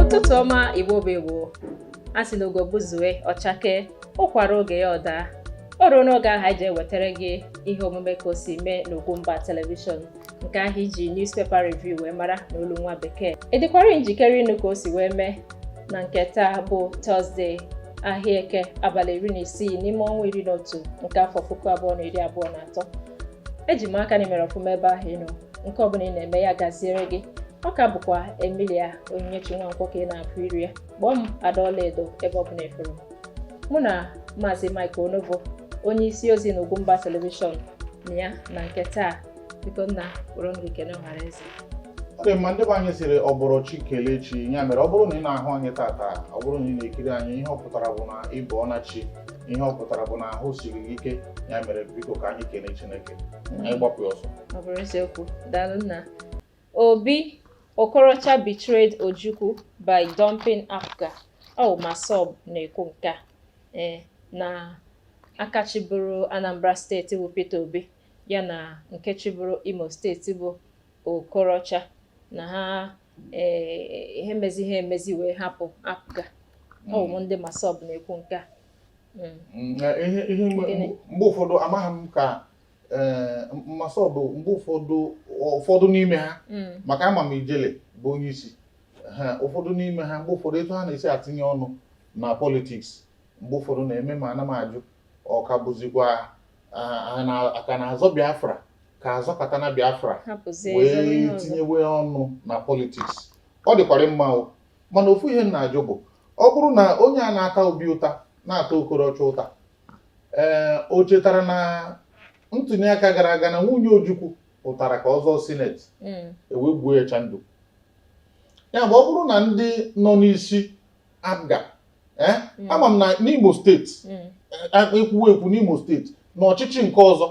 ụtụtụ ọma igbo bụ igbo a sị na ugo gbuzue ọ chakee ụkwa ruo oge ya ọ daa o ruo n'oge ahụ anyị ji ewetara gị ihe omume ka o si mee n'Ugwumba telivishọn nke ahụ e ji newspaper review wee mara n'olu nwa bekee ị dịkwara njikere ịnụ ka o si wee mee na nke taa bụ tọzde ahịa eke abalị iri na isii n'ime ọnwa iri na otu nke afọ puku abụọ na iri abụọ na atọ eji m aka na i mere ọfụma ebe ahụ ị nọ nke ọbụla ị na-eme ya gaziere gị ọ ka bụkwa emilia onyinyechi nwankwọ ka ị na-apụ iri ya kpọọ m ada ọlaedo ebe ọbụla efere m mụ na maazị mike onovo onye isi ozi na ugwumba telivishọn nọ ya na nke taa biko nna kpọrọ m gị kelee ọhanaeze ọ dị mma ndị be anyị sịrị ọ bọrọ chi kelee chi ya mere ọ bụrụ na ị na-ahụ anyị tata ọ bụrụ na ị na-ekiri anyị ihe ọ pụtara bụ na ị bọọna chi ihe ọ pụtara bụ na ahụ siri gị ike ya mere biko ka anyị kelee chineke anyị gbapụ ya ọsọ ọ bụrụ eziokwu daalụ nna obi okorocha betrayed ojukwu by dumping apga ọ massob na-ekwu nke a ee na aka chịburu anambra steeti bụ peter obi ya na nke chịburu Imo steeti bụ Okorocha na ha eh, ihe mezi ha emezi wee hapụ apga ọ bụ ndị massob na-ekwu nke a Mm. Mm, eh, ihe ihe mgbe Gịnị? mgbe ụfọdụ amaghị m ka eh, massob mgbe ụfọdụ ụfọdụ n'ime ha Mm. maka ama m ijele bụ onye isi ha ụfọdụ n'ime ha mgbe ụfọdụ etu ha na-esi atinye ọnụ na politiks mgbe ụfọdụ na-eme m ana m ajụ ọ ka bụzikwa ka a na-azọ Biafra ka a zọkata na Biafra wee tinyewe ọnụ na politiks ọ dịkwara mma o mana ofu ihe m na-ajụ bụ ọ bụrụ na onye a na-ata obi ụta na-ata okorocha ụta ee eh, o chetara na ntuni aka gara aga na nwunye Ojukwu pụtara ka ọ zọọ sineti hmm. e wee gbuo ya chandụ ya bụ ọ bụrụ na ndị nọ n'isi apga ee eh? mm. ama m na n'Imo steeti mm. eh, ekwuwe ekwu n'Imo steeti na ọchịchị nke ọzọ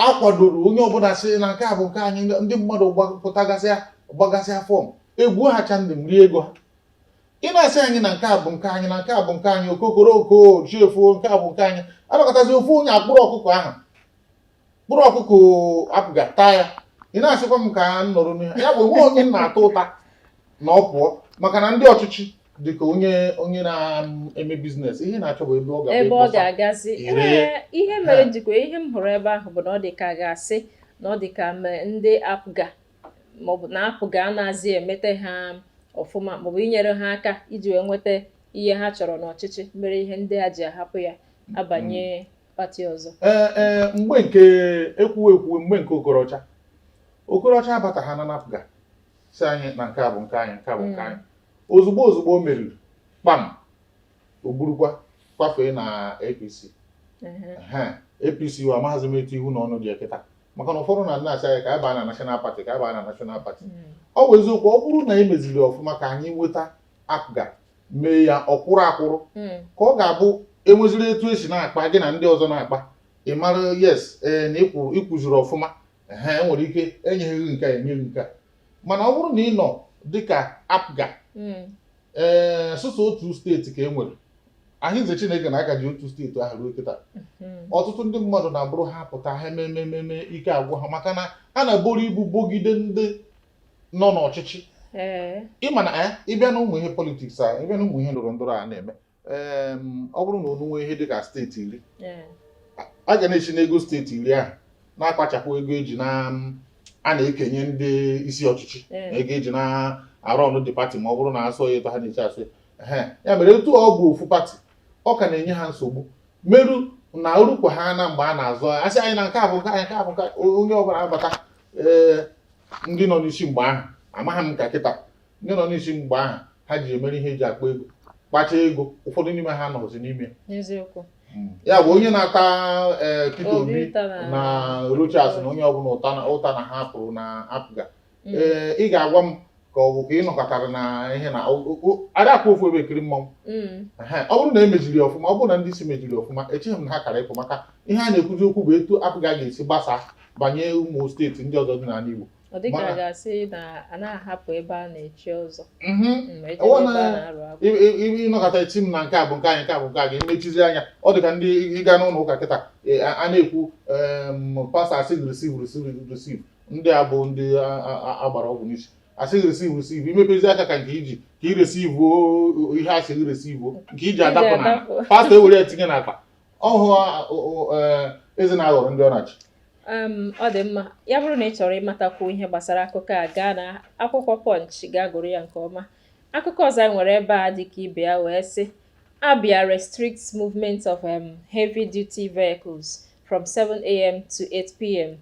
akwadoro onye ọbụla sị na nke a bụ nke anyị ndị mmadụ pụtagasịa gbagasịa fọm egbuo ha chandụm rie ego ha ị na-asị anyị na nke a bụ nke anyị na nke a bụ nke anyị okokorooko chi efoo nke a bụ nke anyị a nọkatazi ofu onye akpụrụ ọkụkọ ahụ kpụrụ ọkụkọ apga taa ya ị na-asịkwa m ka m nọrọ n'ihe ya bụ o nwe onye m na-ata ụta na ọ pụọ maka na ndị ọchịchị dịka onye onye na-eme biznes ihe ọ na-achọ bụ ebe ọ ga ebe ọ ga-agazi ihe mere njikwa ihe m hụrụ ebe ahụ bụ na ọ dị ka a ga-asị na ọ dị ka ndị apga maọbụ na apga anaghịzi emete ha ọfụma maọbụ inyere ha aka iji wee nweta ihe ha chọrọ n'ọchịchị mere ihe ndị a ji ahapụ ya abanye pati ọzọ ee ee mgbe nke ekwuwe ekwuwe mgbe nke okorocha okorocha abata ha na apga sị anyị na nke a bụ nke anyị nke a bụ nke anyị ozugbo ozugbo o meriri kpam o burukwa kwafee na apc Ehe. Ehe, apc wa amaghịzi m etu ihu na ọnụ dị ekịta maka na ụfọdụ na na-asị anyị ka anyị baa na national party ka anyị baa na national party Mm. ọ bụ eziokwu ọ bụrụ na emeziri ọfụma ka anyị nweta apga mee ya ọkwụrụ akwụrụ hmm. ka ọ ga-abụ enweziri etu esi na-akpa gị na ndị ọzọ na-akpa ị mara yes ee na ị kwụziri ọfụma ha enwere ike enyeghị nke a enyeghị nke a mana ọ bụrụ na ị nọ dịka apga hmm. ee sụsọ otu steeti ka e nwere ahịnze chineke na a ka ji otu steeti ahụ ruo kịta hmm. ọtụtụ ndị mmadụ na-abụrụ ha pụta ha emee emee ike agwụ ha maka na a na-eburu ibu bogide ndị nọ n'ọchịchị ịma na eh, ịbịa na ụmụ ihe politiks a ịbịa na ụmụ ihe ndọrọ ndọrọ a na-eme ọ bụrụ na unu nwee ihe dị ka steeti iri a ga na-esi n'ego steeti iri ahụ na-akpachapụ ego eji na a na-ekenye ndị isi ọchịchị na ego eji na-arọnụ the pati ma ọ bụrụ na asọ ya etu ha na-eche asụ ya mere etu ọ bụ ofu pati ọ ka na-enye ha nsogbu meru na o rukwa ha na mgbe a na-azọ asị anyị na nke a bụ nke anyị nke a bụ nke onye ọbụla abata ee ndị nọ n'isi mgbe ahụ amaghị m ka kịta ndị nọ n'isi mgbe ahụ ha ji emere ihe eji akpa ego kpacha ego ụfọdụ n'ime ha nọzi n'ime hmm. ya bụ onye na-ata ee Peter Obi na Rochas na onye ọbụla ụta na ha pụrụ na apga ee hmm. eh, ị ga-agwa m ka ọ bụ ka ị nọkatara na ihe na ada akwụ ofu ebe ekiri mmanwụ mm. ọ bụrụ na emejiri ọfụma ọ bụrụ na ndị isi mejiri ọfụma echeghị m na ha kara ịpụ maka ihe a na-ekwuzi okwu bụ etu apga ga-esi gbasaa banye ụmụ steeti ndị ọzọ dị n'ala Igbo ọ dịka a ga-asị na a na-ahapụ ebe a na-echi ọzọ mhm. mm, ị nọkata echi m na nke a bụ nke anyị nke a bụ nke a ga-emechizi anya ọ dịka ndị ị gaa n'ụlọ ụka kịta e, a na-ekwu pastọ asị receive receive receive ndị a bụ ndị a- a- a- agbara ọgwụ n'isi asị gị receive receive i mepezie aka ka nke iji ka i receive o- ihe asị gị receive nke i ji adapụ na adapụ. pastọ ewere ya tinye n'akpa ọhụ a- o- o- eh, eze na-aghọrọ ndị ọ na-achị um, ọ dị mma ya bụrụ na ị chọrọ ịmatakwu ihe gbasara akụkọ a gaa na akwụkwọ Punch gaa gụrụ ya nke ọma akụkọ ọzọ anyị nwere ebe a dịka ibe ya wee sị Abia restricts movement of um, heavy duty vehicles from 7am to 8pm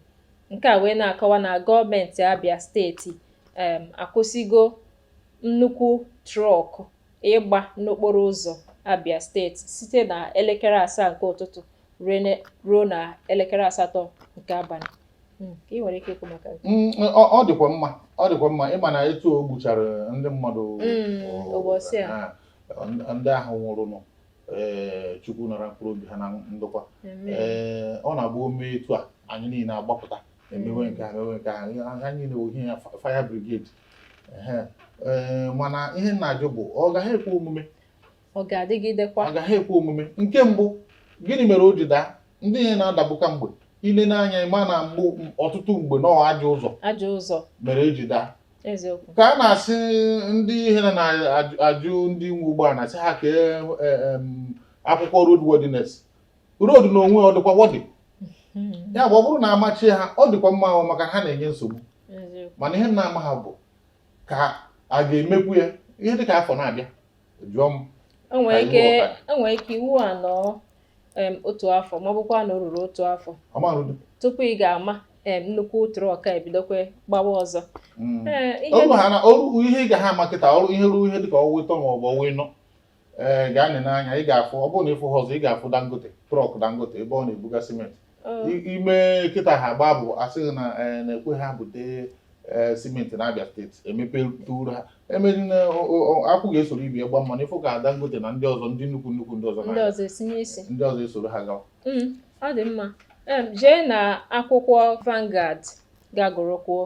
nke a wee na-akọwa na gọọmenti Abia steeti um akwụsịgo nnukwu trọk ịgba n'okporo ụzọ Abia steeti site na elekere asaa nke ụtụtụ ruo na elekere asatọ nke abalị hmm, ị nwere ike ikwu maka hmm, ọ dịkwa mma ọ dịkwa mma ịma na etu o gbuchara ndị mmadụ hmm, ụbọchị a ndị ahụ nwụrụnụ ee eh, Chukwu nara mkpụrụ obi ha na ndokwa ee eh, ọ na-abụ o mee etu a anyị niile agbapụta emewe nke a mewe nke a ha niile ohi ya fire brigade ee eh, mana ihe m na-ajụ bụ ọ gaghị ekwe omume ọ ga-adịgidekwa ọ gaghị ekwe omume nke mbụ gịnị mere o ji daa ndị ihe na-adagbu ka mgbe i lee anya ị ma na mgbe ọtụtụ mgbe na ajọ ụzọ ajọ ụzọ mere e ji daa eziokwu ka a na-asị ndị ihe na-ajụ ndị nwe ụgbọala na-asị ha kee e, akwụkwọ road worthiness road n'onwe ya ọ dịkwa worthy hmm. ya bụ ọ bụrụ na a machie ha ọ dịkwa mma o maka na ha na-enye nsogbu mana ihe m na-amaha bụ ka a ga-emekwu ya ihe dịka afọ na-abịa jụọ m enwere ike enwere ike iwu a anọọ otu afọ ma ọ bụkwa na o ruru otu afọ tupu ị ga-ama nnukwu truck a ebidokwa gbawa ọzọ mm. o ruo ihe ị gaha ama kịta o ruo ihe ruo ihe dịka ọnwa ịtọ maọbụ ọnwa ịnọ ee gaa nee anya ị ga-afụ ọ bụrụ na ị fụha ọzọ ị ga-afụ Dangote truck Dangote ebe ọ na-ebuga cement e mee kịta ha agbaa bụ asịghị na eh, na-ekwe ha bute eh, cement na Abia State e mepetụrụ ha emeri na akwụ ga-esoro ibe ya gbaa mmanụ ị fụ ka Dangote na ndị ọzọ ndị nnukwu nnukwu ndị ọzọ ndị ọzọ esoro ha gawa mm, ọ dị mma jee na akwụkwọ Vanguard ga-agụrụkwuo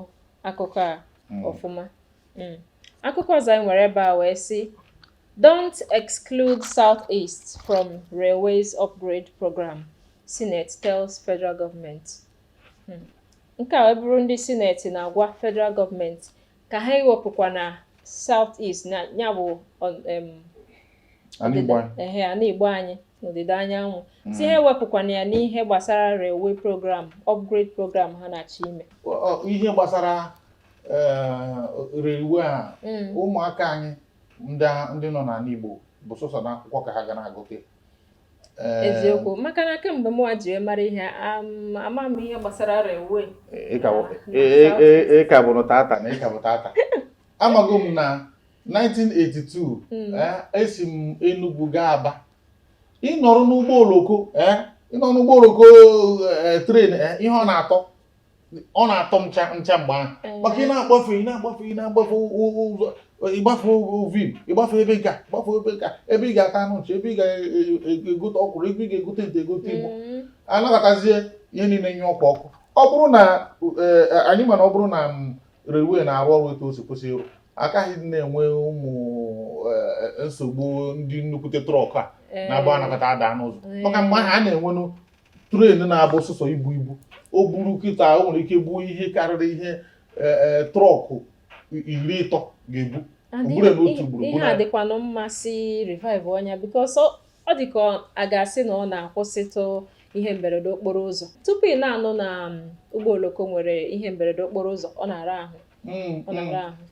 akụkọ a mm. ọfụma mm. akụkọ ọzọ anyị nwere ebe a wee sị Don't exclude Southeast from Railways Upgrade Program, Senate tells Federal Government. Hmm. Nke a wee bụrụ ndị Senate na-agwa Federal Government ka ha ewepụkwana Southeast na ya bụ ana Igbo anyị n'ọdịda anyanwụ hmm. sị ha ewepụkwana ya n'ihe gbasara railway program upgrade program ha na-achọ ime ihe gbasara eh, railway a hmm. ụmụaka anyị ndị a- ndị nọ n'ana Igbo bụ sọsọ n'akwụkwọ ka ha ga na-agụte Ee, eziokwu maka na kemgbe mụwa ji wee mara ihe am- ama m ihe gbasara railway ị ka bụ- Ah, ị- ị- ị- ị ka bụrụ tata na ị ka bụ tata amago m na 1982 Mm. eh, esi m Enugu gaa Aba ị nọrọ n'ụgbọ oloko eh, ị nọrọ n'ụgbọ oloko eh, train eh, ihe ọ na-atọ ọ na-atọ m ncha ncha mgbe ahụ mm. maka ị na-agbafe ị na-agbafe ị na-agbafe ụzọ ị gbafee vim ị gbafee ebe nka ị gbafee ebe nka ebe ị ga-ata anụ nchi ebe ị ga-egote ọkwụrụ ebe ị ga-egote nte egote igbo mm. anabatazie ihe niile nye ọkụ ọkụ ọ bụrụ na e, e, anyị mana ọ bụrụ na mm, railway na-arụ ọrụ etu o si kwesị ịrụ a kaghị na-enwe ụmụ e, nsogbu ndị nnukwute truck a na-agba anọkata ada n'ụzọ maka mgbe ahụ a na-enwenụ train na-ebu sụsọ ibu ibu o buru kịta o nwere ike buo ihe karịrị ihe e, e, truck iri ịtọ ga-ebu ugboro n'otu ugboro ihe a dịkwanụ mma sị revive-uo ya because ọ dị ka a ga-asị na ọ na-akwụsịtụ ihe mberede okporo ụzọ tupu ị na-anụ na um, ụgbọ oloko nwere ihe mberede okporo ụzọ ọ na-ara ahụ mm,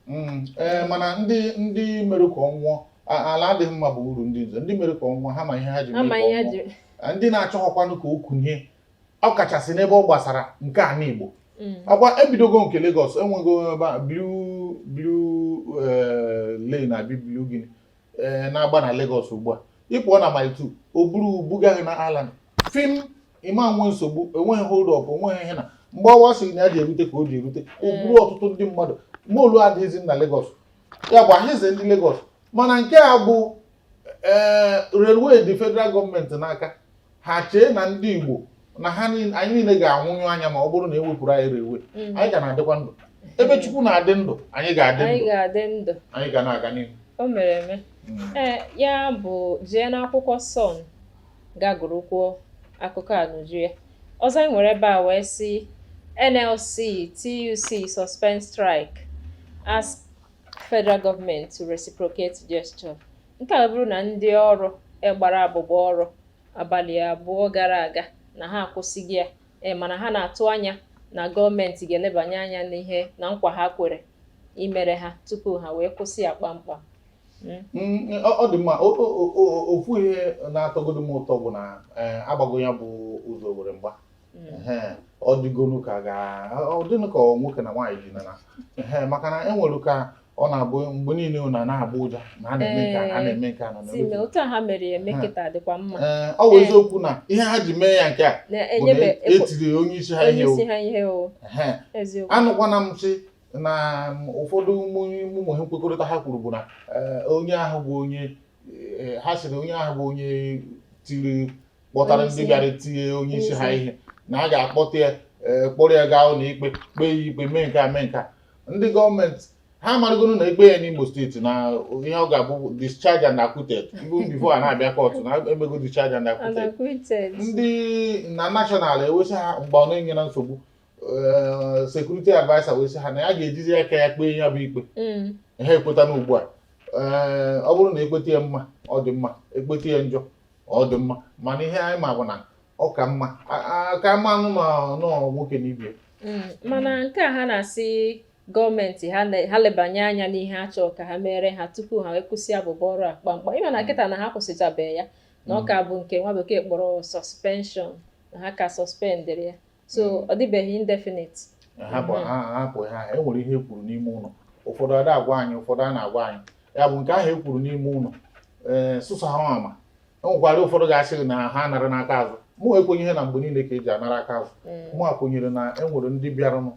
mm, eh, mana ndị ndị mere ka ọ nwụọ ala adịghị mma bụ uru ndị nze ndị mere ka ọ nwụọ ha ma ihe ha ji mee ka ọ nwụọ eh, ndị na-achọghọkwanụ ka o kunie ọ kachasị n'ebe ọ gbasara nke ana Igbo mm. ọkwa ebidogo nke Lagos enwego ebe a blue blue eh, line abi blue gịnị ee na-agba na Lagos ugbu a ị pụọ na Mile 2 o buru buga gị na Island fiam ị ma-enwe nsogbu enweghị hold up enweghị ihe na mgbe ọwa sịrị na ya ji erute ka o ji erute o buru ọtụtụ ndị mmadụ molue adịghịzi na Lagos ya bụ ahịze ndị Lagos mana nke a bụ ee railway dị federal gọọmenti n'aka ha chee na ndị Igbo na anyị niile ga-anwụnyụ anya ma ọ bụrụ na e wepụrụ anyị railway mm. anyị ga na-adịkwa ndụ ebe Chukwu na-adị ndụ anyị ga-adị ndụ anyị ga na-aga n'ihu o mere eme mm. eh, ya bụ jee n'akwụkwọ Sun gaa gụrụkwuo akụkọ a n'uju ya ọzọ anyị nwere ebe a wee sị NLC TUC suspend strike as federal government to reciprocate gesture nke a bụrụ na ndị ọrụ gbara abụbọ ọrụ abalị abụọ gara aga na ha akwụsịgo ya e, mana ha na-atụ anya na gọọmenti ga-elebanye anya n'ihe na nkwa ha kwere imere ha tupu ha wee kwụsị ya kpamkpam hmm? Hmm, ọ dị mma ofu ihe na-atọgodo m ụtọ bụ na e, agbago ya bụ ụzọ owere mgba hmm. ọ dịgonu ka ọ dịnụ ka nwoke na nwaanyị ji nana maka na enwere ka ọ na-abụ mgbe niile ọ na-abụ ụja na a na-eme nke a na-eme nke a na na-eme otu ha mere ya eme kịta dịkwa mma ee ọ bụ eziokwu na ihe ha ji mee ya nke a bụ na etiri onye isi ha ihe o anụkwana m sị na ụfọdụ ụmụ ihe nkwekọrịta ha kwuru bụ na onye ahụ bụ onye ha sịrị onye ahụ bụ onye tiri kpọtara ndị bịara tie onye isi ha ihe na a ga-akpọta ya eh, kpọrọ ya gaa ụlọ ikpe kpee ya ikpe mee nke a mee nke a ndị gọọmenti ha amarịgoro na e kpee ya n'Imo steeti na ihe ọ ga-abụ discharge and acquitted even before a na-abịa kọtụ na emego discharge and acquitted ndị na national e wee sị ha mgbe ọ na-enye na nsogbu eh, security adviser wee sị ha na ya ga-ejizi aka ya kpee ya bụ ikpe mm. ha ekweta na ugbu a eh, ọ bụrụ na e kpeta ya mma ọ dị mma e kpeta ya njọ ọ dị mma mana ihe anyị ma bụ na ọ ka mma ka mmanụ ma nọọ nwoke n'ibie mm, mana nke a ha na-asị gọọmenti ha lebanye anya n'ihe a chọrọ ka ha meere ha tupu ha wee kwụsị abụbọ ọrụ a kpamkpam ị ma na kịta na ha kwụsịchabeghị ya na ọ ka bụ nke nwa bekee kpọrọ suspension na ha ka suspendịrị ya so ọ dịbeghị indefinite hapụ ha hapụ ha e nwere ihe e kwuru n'ime ụlọ ụfọdụ ada agwa anyị ụfọdụ a na-agwa anyị ya bụ nke ahụ e kwuru n'ime ụlọ ee eh, sọsọ ha ma e nwekwara ụfọdụ ga-asị na ha nara n'aka azụ mụ ekwenyeghị na mgbe niile ka e ji anara aka azụ mm. mụwa kwenyere na e nwere ndị bịaranụ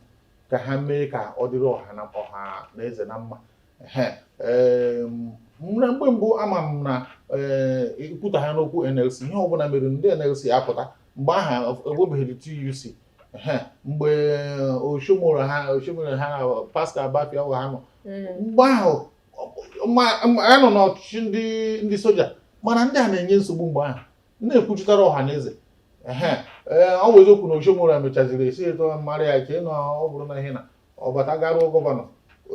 ka ha mee ka ọ dịrị ọha na ọha na eze na mma na mgbe mbụ ama m na ee eh, i kwuta ha n'okwu NLC ihe ọbụla mere ndị NLC apụta mgbe ahụ enwebeghị TUC mgbe uh, Oshiomhole ha Oshiomhole ha na uh, Pascal Bafyau wa ha nọ mm. mgbe ahụ a nọ n'ọchịchị ndị ndị soja mana ndị a na-enye nsogbu mgbe ahụ na-ekwuchitara ọha na eze eh, ọ bụ eziokwu na Oshiomhole mechaziri esi eto mara ya chee na ọ bụrụ na ihe na ọ bata garuo gọvanọ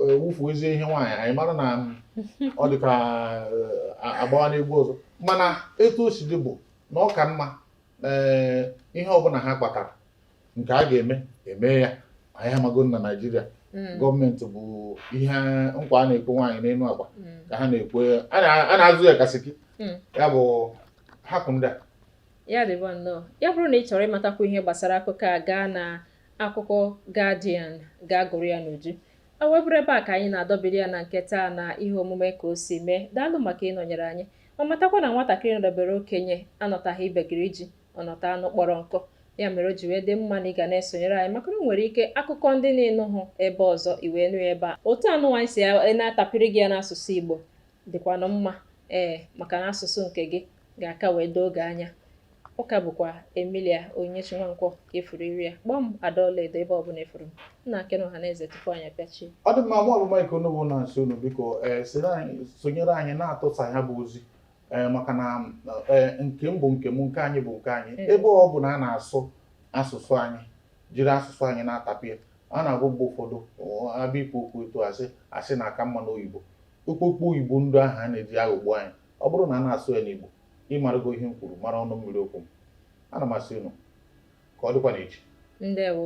eh, wufuo ezi ihe nwaanyị anyị mara na ọ dị ka eh, agbawa n'egwu ọzọ mana etu o si dị bụ na ọ ka mma ee ihe ọbụla ha kpatara nke a ga-eme eme ya anyị amago na Naịjirịa Mm. gọọmenti bụ ihe nkwa a na-ekwe nwaanyị n'elu akwa Mm. ka ha na-ekwe a na- a na-azụ ya kasiki Mm. ya bụ hapụ ndị a ya dịba nnọọ ya bụrụ na ị chọrọ ịmatakwu ihe gbasara akụkọ a gaa na akụkọ Guardian gaa gụrụ ya n'uju o wee bụrụ ebe a ka anyị na-adọbiri ya na nke taa na ihe omume ka o si mee daalụ maka ịnọnyere anyị ma matakwa na nwatakịrị nọdebere okenye anọtaghị ibegiri ji ọ nọta anụ kpọrọ nkụ ya mere o ji wee dị mma na ị ga na-esonyere anyị maka na o nwere ike akụkọ ndị ị na-anụhụ ebe ọzọ i wee nụ ya ebe a otu anyịnwa si e na-atapịrị gị ya n'asụsụ Igbo dịkwanụ mma ee maka na asụsụ nke gị ga-aka wee doo gị anya ọ ka bụkwa Emilia Onyinyechi Nwankwo ị fụrụ iru ya kpọọ m ada ọlaedo ebe ọbụla ị fụrụ m nna kenee ọha na eze tupu anyị apịachie ọ dị mma mụ bụ Mike Onugbu na-asị unu biko ee soro anyị sonyere anyị na-atụsa ya bụ ozi ee maka na ee nke m bụ nke m nke anyị bụ nke anyị Mm. ebe ọ bụ na a na-asụ asụsụ anyị jiri asụsụ anyị na-atapịa a na-agụ mgbe ụfọdụ ọ, a bịa ikwu okwu etu a sị a sị na ọ ka mma n'oyibo okpokpo oyibo ndị ahụ a na-eji aghọgbu anyị ọ bụrụ na a na-asụ ya n'igbo ị marugo ihe m kwuru mara ọnụ mmiri okwu m ana m asị unu ka ọ dịkwa n'echi ndewo